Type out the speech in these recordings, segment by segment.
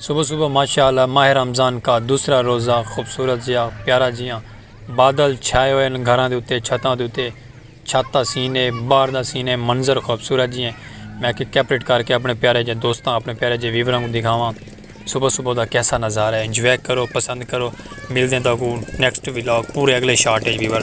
صبح صبح ماشاء اللہ ماہ رمضان کا دوسرا روزہ خوبصورت جیا پیارا جیاں بادل چھائے ہوئے ہیں گھراں دے اتے چھتاں دے اتے چھت دا سین ہے باہر دا سین ہے منظر خوبصورت جیاں میں کہ کیپریٹ کر کے اپنے پیارے جے دوستاں اپنے پیارے جے ویوراں کو دکھاواں صبح صبح دا کیسا نظارہ ہے انجوائے کرو پسند کرو ملدیں تاکو نیکسٹ ویلاگ پورے اگلے شارٹ ہے ویور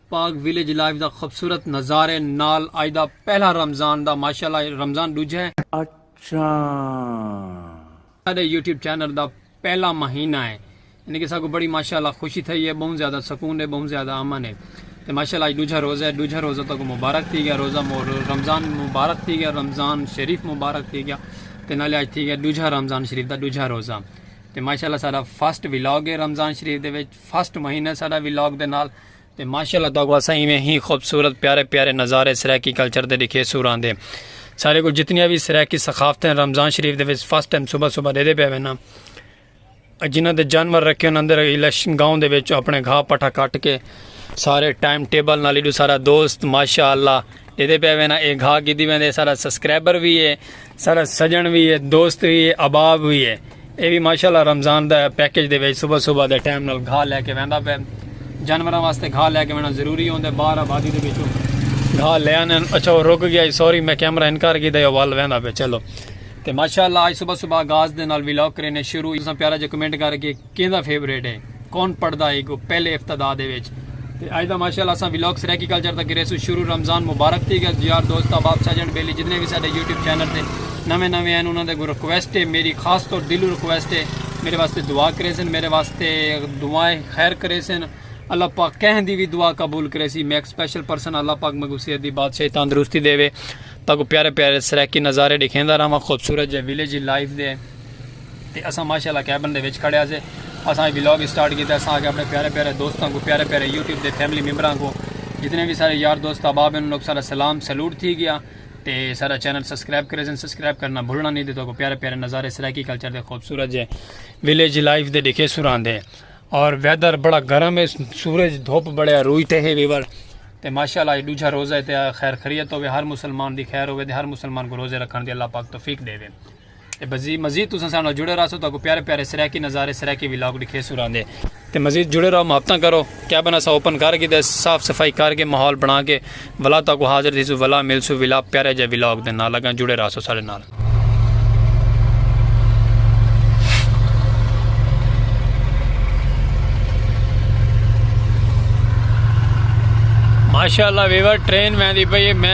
پاک ویلیج لائیو دا خوبصورت نظارے نال اج دا پہلا رمضان دا ماشاءاللہ رمضان ڈوجھا ہے۔ اچھاں۔ ساڈے یوٹیوب چینل دا پہلا مہینہ ہے یعنی کہ ساکوں بڑی ماشاءاللہ خوشی تھئی ہے بہوں زیادہ سکون ہے بہوں زیادہ امن ہے تے ماشاءاللہ اج ڈوجھا روزہ ہے ڈوجھا روزہ تاکوں مبارک تھی گیا روزہ رمضان مبارک تھی گیا رمضان شریف مبارک تھی گیا تے نالے اج تھی گیا ڈوجھا رمضان شریف دا ڈوجھا روزہ تے ماشاءاللہ ساڈا فرسٹ ولاگ ہے رمضان شریف دے وچ فرسٹ مہینہ ساڈا ولاگ دے نال تے ماشاءاللہ تہاکوں اساں ایویں ہی خوبصورت پیارے پیارے نظارے سرائیکی کلچر دے ڈکھیسوں راندے سارے کو جتنیاں بھی سرائیکی ثقافتیں رمضان شریف دے وچ فرسٹ ٹائم صبح صبح دے دے پے وینا جنہاں دے جانور رکھے انہاں اندر الیکشن گاؤں دے وچ اپنے گھا پٹھا کٹ کے سارے ٹائم ٹیبل نال ایڈو سارا دوست ماشاءاللہ جیدے پہ وینا اے گھا کیتی ویندے سارا سبسکرائبر وی ہے سارا سجن وی ہے دوست وی ہے اباب وی ہے اے بھی ماشاءاللہ رمضان دا پیکج دے وچ صبح صبح دے ٹائم نال گھا لے کے ویندا پہ جانوراں واسطے گھا لے کے وینا ضروری ہوندے باہر آبادی دے وچوں گھا لے آنے اچھا وہ رک گیا سوری میں کیمرہ انکار کیتا یا ول ویندا پہ چلو تے ماشاءاللہ اج صبح صبح گاز دے نال ویلاگ کرینے شروع اساں پیارا جے کمنٹ کر کے کیندا فیورٹ ہے کون پڑھدا ہے گو پہلے افتدا دے وچ تے اج دا ماشاءاللہ اساں ویلاگ سرائیکی کلچر دا کرے سو شروع رمضان مبارک تھی گیا یار دوست احباب سجن بیلی جتنے بھی ساڈے یوٹیوب چینل تے نویں نویں ہیں انہاں دے کو ریکویسٹ ہے میری خاص طور دلو ریکویسٹ ہے میرے واسطے دعا کرے سن میرے واسطے دعائیں خیر کرے سن اللہ پاک کہیں دی بھی دعا قبول کرے سی میں ایک سپیشل پرسن اللہ پاک میں کو صحت دی بادشاہی تندرستی دے وے تاکو پیارے پیارے سرائیکی نظارے دکھیندا رہاں خوبصورت جے ویلیج لائف دے تے اساں ماشاء اللہ کیبن دے وچ کھڑے ہاسے اساں اے ولاگ اسٹارٹ کیتا اساں آکھیا اپنے پیارے پیارے دوستاں کوں پیارے پیارے یوٹیوب دے فیملی ممبراں کوں جتنے وی سارے یار دوست احباب انہاں لوگ سارا سلام سلوٹ تھی گیا تے سارا چینل سبسکرائب کرے سن سبسکرائب کرنا بھولنا نہیں تے تو کو پیارے پیارے نظارے سرائیکی کلچر دے خوبصورت جے ویلیج لائف دے دکھے سران دے اور ویدر بڑا گرم ہے سورج دھوپ بڑے روئی تے ہے ویور تے ماشاءاللہ یہ دوجھا روزہ ہے تے خیر خریت ہوے ہر مسلمان دی خیر ہوے تے ہر مسلمان کو روزے رکھن دی اللہ پاک توفیق دے وے تے بزی مزید تساں ساڈے نال جڑے رہسو تہاکوں پیارے پیارے سرائیکی نظارے سرائیکی ولاگ ڈکھیسوں راندے تے مزید جڑے رہو محبتاں کرو کیبن اساں اوپن کر گھیدا ہے صاف صفائی کر کے ماحول بنا کے ولا تہاکوں حاضر تھیسوں ولا ملسوں ولا پیارے جے ولاگ دے نال اگاں جڑے رہسو ساڈے نال۔ ماشاءاللہ ویور ٹرین ویندی پئی ہے میں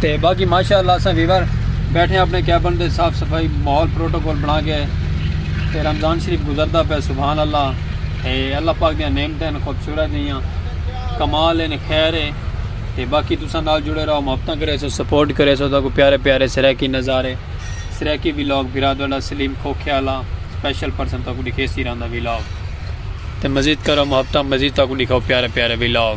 تے باقی ماشاء اللہ اساں ویور بیٹھے ہیں اپنے کیبن دے صاف صفائی ماحول پروٹوکول بنا کے تے رمضان شریف گزردا پہ سبحان اللہ تے اللہ پاک دیاں نعمتیں خوبصورت دیاں کمال ہیں خیر ہے تے باقی تساں نال جڑے رہو محبتاں کرے سو سپورٹ کرے سو تاکو پیارے پیارے سریکی نظارے سریکی ویلاگ بھرا دوڑا سلیم کھوکھے والا سپیشل پرسن تاکو دکھے سی رہندا ویلاگ تے مزید کرو محبتاں مزید تاکو دکھاؤ پیارے پیارے ویلاگ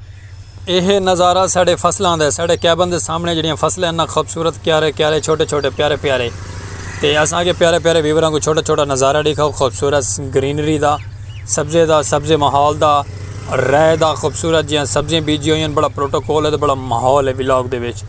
ایہہ نظارہ ساڈے فصلاں دا ہے۔ ساڈے کیبن دے سامنے جیہڑیاں فصلاں ہن انہاں خوبصورت کیارے کیارے چھوٹے چھوٹے پیارے پیارے تے اساں کے پیارے پیارے ویوراں کوں چھوٹا چھوٹا نظارہ ڈیکھا او خوبصورت گرینری دا سبزے دا سبزے ماحول دا رے دا خوبصورت جیہاں سبزیاں بیجی ہوئی ہیں بڑا پروٹوکول ہے بڑا ماحول ہے ولاگ دے وچ۔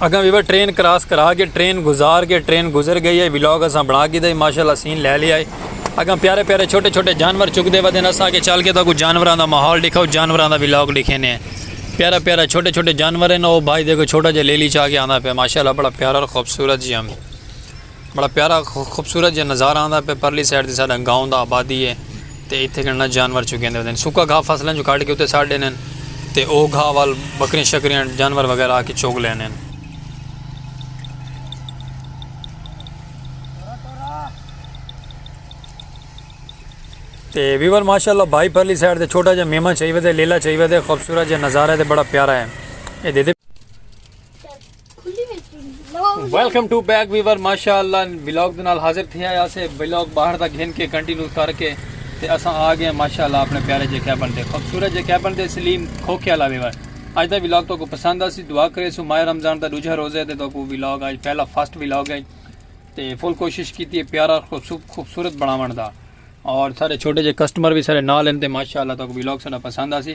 اگاں ویور ٹرین کراس کرا گئے ٹرین گزار گئے ٹرین گزر گئی ہے ولاگ اساں بنا گی دے ماشاءاللہ سین لے لیا ہے اگاں پیارے پیارے چھوٹے چھوٹے جانور چک دے ودے نسا کے چل کے تو کو جانوراں دا ماحول دکھاؤ جانوراں دا ولاگ لکھے نے پیارا پیارا چھوٹے چھوٹے جانور ہیں او بھائی دیکھو چھوٹا جے لیلی چا کے آندا پہ ماشاءاللہ بڑا پیارا اور خوبصورت جی ہم بڑا پیارا خوبصورت جا نظارہ آندا پے پرلی سائیڈ تے ساڈا گاؤں دا آبادی ہے تے ایتھے گھننا جانور چگیندے ہوندے سوکا گھا فصلاں جو کڈھ کے اتے سٹ ڈیندے تے او گھا ول بکریاں شکریاں جانور وغیرہ آ کے چگ لیندے ہن۔ تے ویور ماشاءاللہ بھائی پرلی سائیڈ تے چھوٹا جا میمہ چھئی ودے لیلا چھئی ودے خوبصورت جا نظارہ ہے تے بڑا پیارا ہے۔ ویلکم ٹو بیک ویور ماشاء اللہ بلاگ دے نال حاضر تھیا یا سے بلاگ باہر دا گھن کے کنٹینیو کر کے تے اساں آ گئے ماشاء اللہ اپنے پیارے جے کیبن دے خوبصورت جے کیبن دے سلیم کھوکھے والا ویور اج دا بلاگ تو کو پسند آسی دعا کرے سو ماہ رمضان دا دوجھا روزے تے تو کو بلاگ اج پہلا فرسٹ بلاگ ہے تے فل کوشش کیتی ہے پیارا خوبصورت بناون دا اور سارے چھوٹے جے کسٹمر بھی سارے نال ہیں تے ماشاء اللہ تو کو بلاگ سارا پسند آسی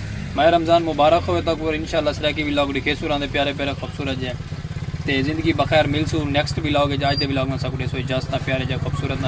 ماہ رمضان مبارک ہووے تہاکوں ور انشاء اللہ سرائیکی ولاگ ڈکھیسوں راندے پیارے پیارے خوبصورت جے تے زندگی بخیر ملسوں نیکسٹ ولاگ اچ اج دے ولاگ نال ساکوں ڈیسو اجازتاں پیارے جے خوبصورت نال